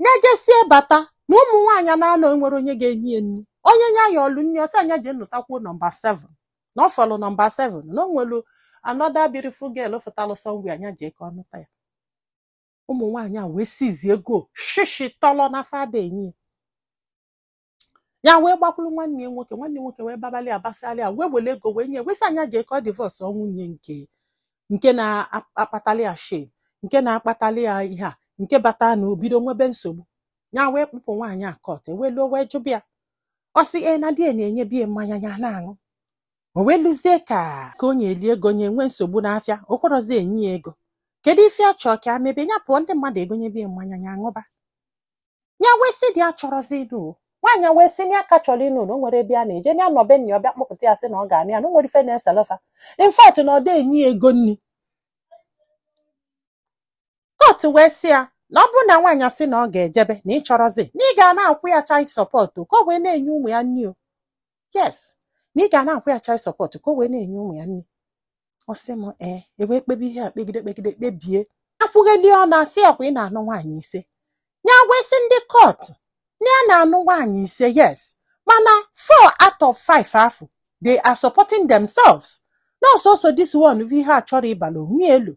nya jesie bata na ụmụ nwaanyị naanọ enwere onye ga-enye ya nri onye nya yọọlụ nri ọ sị nya jee nụtakwuo nọmba ise na ọ fọlụ nọmba ise na o nwelu another beautiful girl fụtalụ somewhere nya jee ka ọ nụta ya ụmụ nwaanyị a wee sịzị ego shishi tọlọ na fa ada enye ya wee gbakwuru nwanne ya nwoke nwanne nwoke wee babalị abasịalị ya wee were ego wee nye wee sị nya jee ka ọ divorce nwunye nke nke na-akpatali ya shame nke na-akpatali ya ihe a nke bata na obido nwebe nsogbu ya wee kpụpụ nwaanyị a court e wee luo wee jụba ya ọ sị e na di na-enyebu ya mmanya ya na-aṅụ o wee luzie ka ka onye eli ego nye nwee nsogbu n'afịa o kwerọzi enye ya ego kedu ife ọ chọọ ka a mebe ya pụọ ndị mmadụ egonyebe ya mmanya ya aṅụba ya wee sị dị ya achọrọzi ịnụ o. nwaanyị wee sị na ya ka chọrọ ịnụ na o nwere ebe a na-eje na ya nọ be nna ya ọ bịa kpọpụta ya sị na ọ ga-anụ ya na o nwere ife na-esele fa in fact na ọ dị enye ya ego nri court wee sị ya na ọ bụrụ na nwaanyị asị na ọ ga-ejebe na ị chọrọzi na ị ga na-akwụ ya child support o, ka ọ wee na-enye ụmụ ya nri o yes na ị ga na-akwụ ya child support ka o wee na-enye ụmụ ya nri ọ sị m e wee kpebe ihe a kpegide kpegide kpebie akwụgheli ọ na-asị ya ọkwa ị na-anụ nwaanyị ise ya wee sị ndị court na ya na-anụ nwaanyị ise yes mana four out of five afụ they are supporting themselves na ọ sọsọ this one bụ ihe a chọrọ ịbala onwe ya elu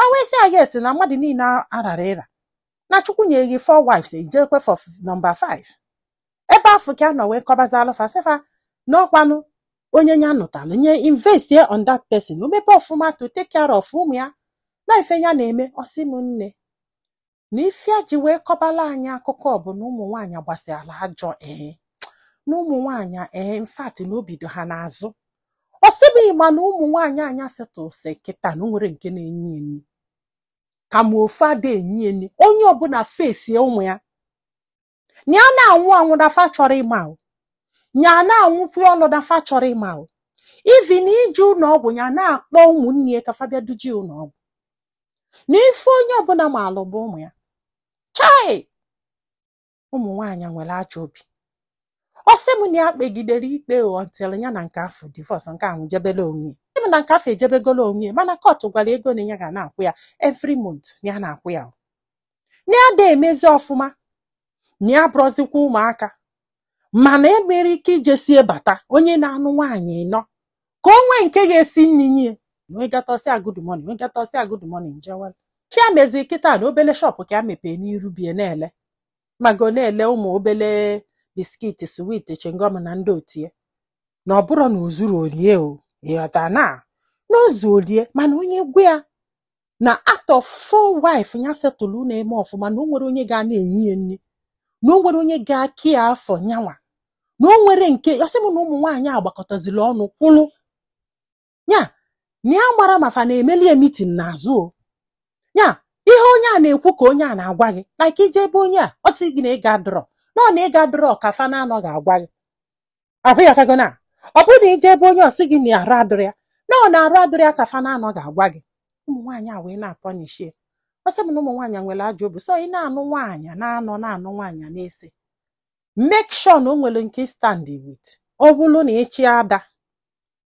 o wee sị ya yes na mmadụ niile arara ịra na chukwu nye gị four wives ejekwe for number five ebe afụ ka ọ nọ wee kọbazịalụ fa sị fa n'ọkwanụ onye ya nụtalụ nya invest ye on that person o mebe ọfụma to take care of ụmụ ya na ife ya na-eme ọ sị m nne na ife ya ji wee kọbala anyị akụkọ bụ na ụmụ nwaanyị gbasịala ajọ ee na ụmụ nwaanyị ee in fact na obi dị ha n'azụ ọ sị m ị ma na ụmụ nwaanyị a nya settle sị kịta na o nwere nke na-enye ya nri kama ofu ada enye ya nri onye ọbụla fesie ụmụ ya nya na-anwụ anwụ na fa achọrọ ịma o nya na-anwụkwu ọlụ na fa achọrọ ịma o even ije ụlọ ọgwụ ya na-akpọ ụmụnne ya ka fa bịa duje ụlọ ọgwụ na ife onye ọbụla maalụ bụ ụmụ ya chai ụmụ nwaanyị nwere ajọ obi ọ sị m na ya kpegidere ikpe until ya na nke afụ divorce nke ahụ jebele onwe ya Sị m na nke afụ ejebegolo onwe ya mana kọtụ gwara ego na ya ga na-akwụ ya every month na ya na-akwụ ya o. na ya da emezi ọfụma na ya abụrọzikwa ụmụaka mana e nwere ike ijesie bata onye na-anụ nwaanyị nọ ka o nwee nke ga-esi nri nye nwegatọsi ya good morning nwegatọsi ya good morning njewel chi ya mezi kịta na obele shọpụ ka ya mepee n'iru be ya na-ele mago na-ele ụmụ obele biscuit sweet chewing gum na ndị otie na ọ bụrụ na o zuru o lie o ịghọta na na o zuo o lie mana onye gwa ya na atọ four wife ya setụlụ na-eme ọfụma na o nwere onye ga na-enye ya nri na o nwere onye ga-acare for nyanwa na o nwere nke ọ sị m na ụmụ nwaanyị a gbakọtaziri ọnụ kwụrụ ya na ya gbara ma fa na-emeli ya meeting n'azụ o ya ihe onye a na-ekwu ka onye a na-agwa gị like i je be onye a ọ sị gị na ego adịrọ na ọ na ego adịrọ ka fa n'anọ ga-agwa gị ọ bụ ya ị ghọtago na ọ bụrụ na i je be onye ọ sị gị na arụ adịrọ ya na ọ na arụ adịrọ ya ka fa n'anọ ga-agwa gị ụmụ nwaanyị a wee na-apunish ya ọ sị m na ụmụ nwaanyị nwere ajọ obi so ị na-anụ nwaanyị n'anọ na-anụ nwaanyị n'ise make sure na o nwere nke ị stand with ọ bụrụ na ịchị ada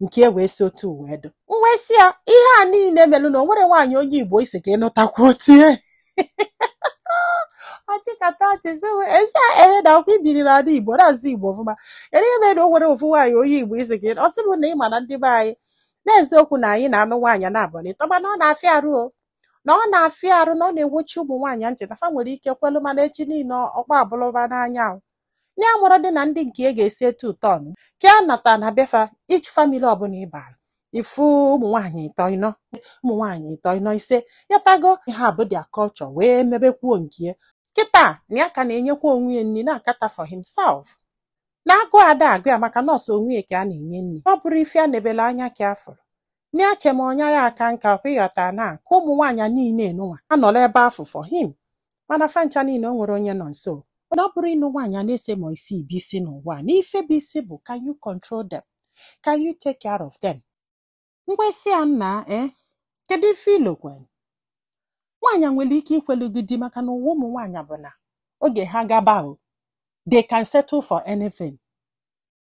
nke a wee si otu wee dụ m wee sị ya ihe a niile melụ na o nwere nwaanyị onye igbo ị sị ka ị nụtakwu otu ya ọ chịkata ọchị sị ezi ehe na ọkwa i biri n'ala igbo na-asụ igbo ọfụma ere ihe mere na o nwere ofu nwaanyị onye igbo ị sị ka ị nụ- ọ sị mụ na ị ma na ndị be anyị n'eziokwu na anyị na-anụ nwaanyị naabọ n'ịtọ mana ọ na-afịa arụ o na ọ na-afịa arụ na ọ na-ewochi ụmụ nwaanyị ntị na fa nwere ike kwelu mana echi niile ọkpa abụlụba n'anya ahụ Na ya amarọdị na ndị nke ya ga-esi etu ụtọ ọnụ. Ka ya nata na be fa each family ọbụla ị bara ị fụ ụmụ nwaanyị ịtọ ịnọ, ụmụ nwaanyị ịtọ ịnọ ise. Ị ghọtago ihe a bụ their culture wee mebekwuo nke ya. Kịta na ya ka na-enyekwa onwe ya nri na-acater for himself. Na agụụ ada agụ ya maka na ọ sọ onwe ya ka ya na-enye nri. Na ọ bụrọ ife ya nebere anya ka ya fụrụ. Na ya che ma ọ na ya aka nka kwa ị ghọta na ka ụmụ nwaanyị a niile nụnwa anọla ebe afụ for him mana fa ncha niile o nwerọ onye nọ nso mana ọ bụrọ ịnụ nwaanyị n'ise ma isii bụ isi n'ụwa a, na ife bụ isi bụ can you control them can you take care of them m wee sị ya nna eh kedu ife i lokwe nwaanyị a nwere ike ikwelu gị di maka na ụwa ụmụ nwaanyị bụ na oge ha gaba o they can settle for anything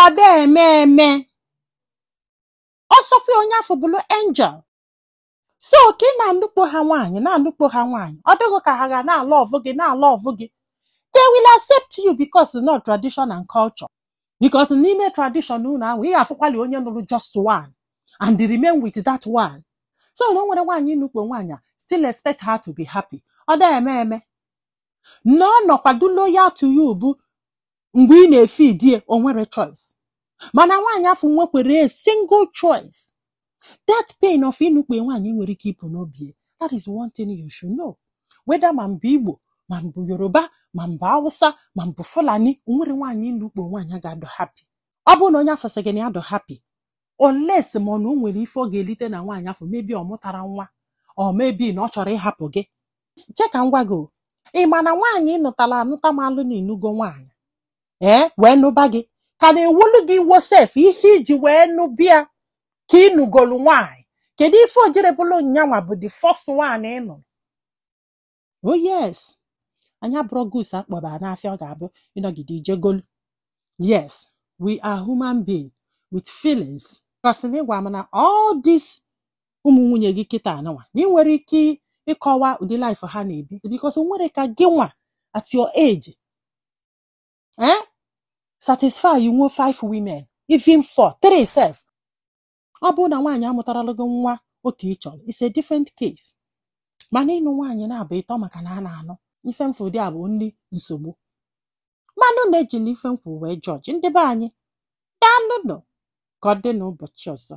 ọ da eme eme ọ sọkwa onye afụ bụrụ angel so ka ị na-anụkpo ha nwaanyị na-anụkpo ha nwaanyị ọ dịghị ka ha ga na-alove gị na-alove gị they will accept you because na ọ tradition and culture because n'ime tradition unu ahụ ị ga-afụkwali onye nụrụ just one and remain with that one so na o nwere nwaanyị nụkpo nwaanyị a still expect her to be happy ọ da eme eme na ọ nọkwa dụ loyal to you bụ mgbe ị na-efeed ya o nwerọ choice mana nwaanyị afụ nwekwere a single choice that pain of ịnụkpo nwaanyị nwerọ ike ịpụ n'obi ya. that is one thing you should know whether ma mbụ igbo ma mbụ yoruba ma mbụ hausa ma mbụ fulani o nwerọ nwaanyị ị nụkpo nwaanyị ga-adụ happy ọ bụrụ na onye afụ sị gị na ya dụ happy unless ma ọ na o nwere ife ọ ga-elite na nwaanyị afụ maybe ọ mụtara nwa or maybe na ọ chọrọ ịhapụ gị che ka m gwa gị o. ị ma na nwaanyị ị nụtala anụta malụ na ị nụgo nwaanyị ee wee nụba gị ka na-ewolu gị iwo sef ihe i ji wee nụba ya ka ị nụgolu nwaanyị kedu ife o jirọ bụlụ nyanwa bụ the first one ị nụrụ oh yes anyị abụrọ goods a kpọba n'afịa ọ ga-abụ ị nọgide i je golu yes we are human being with feelings kasị na ị gwa m na all this ụmụ nwunye gị kịtaa nụnwa na ị nwere ike ịkọwa ụdị life ha na-ebi because o nwerọ ka gị nwa at your age eh? satisfy you know five women even four three sef ọ bụrụ na nwaanyị amụtarala gị nwa oke ị chọrọ it's a different case mana ịnụ nwaanyị naabọ ịtọ maka na a na-anụ ife m fụ dị abụ ndị nsogbu manụ na-ejila ife m fụ wee judge ndị be anyị daalụ nụ ka ọ dị n'ụbọchị ọzọ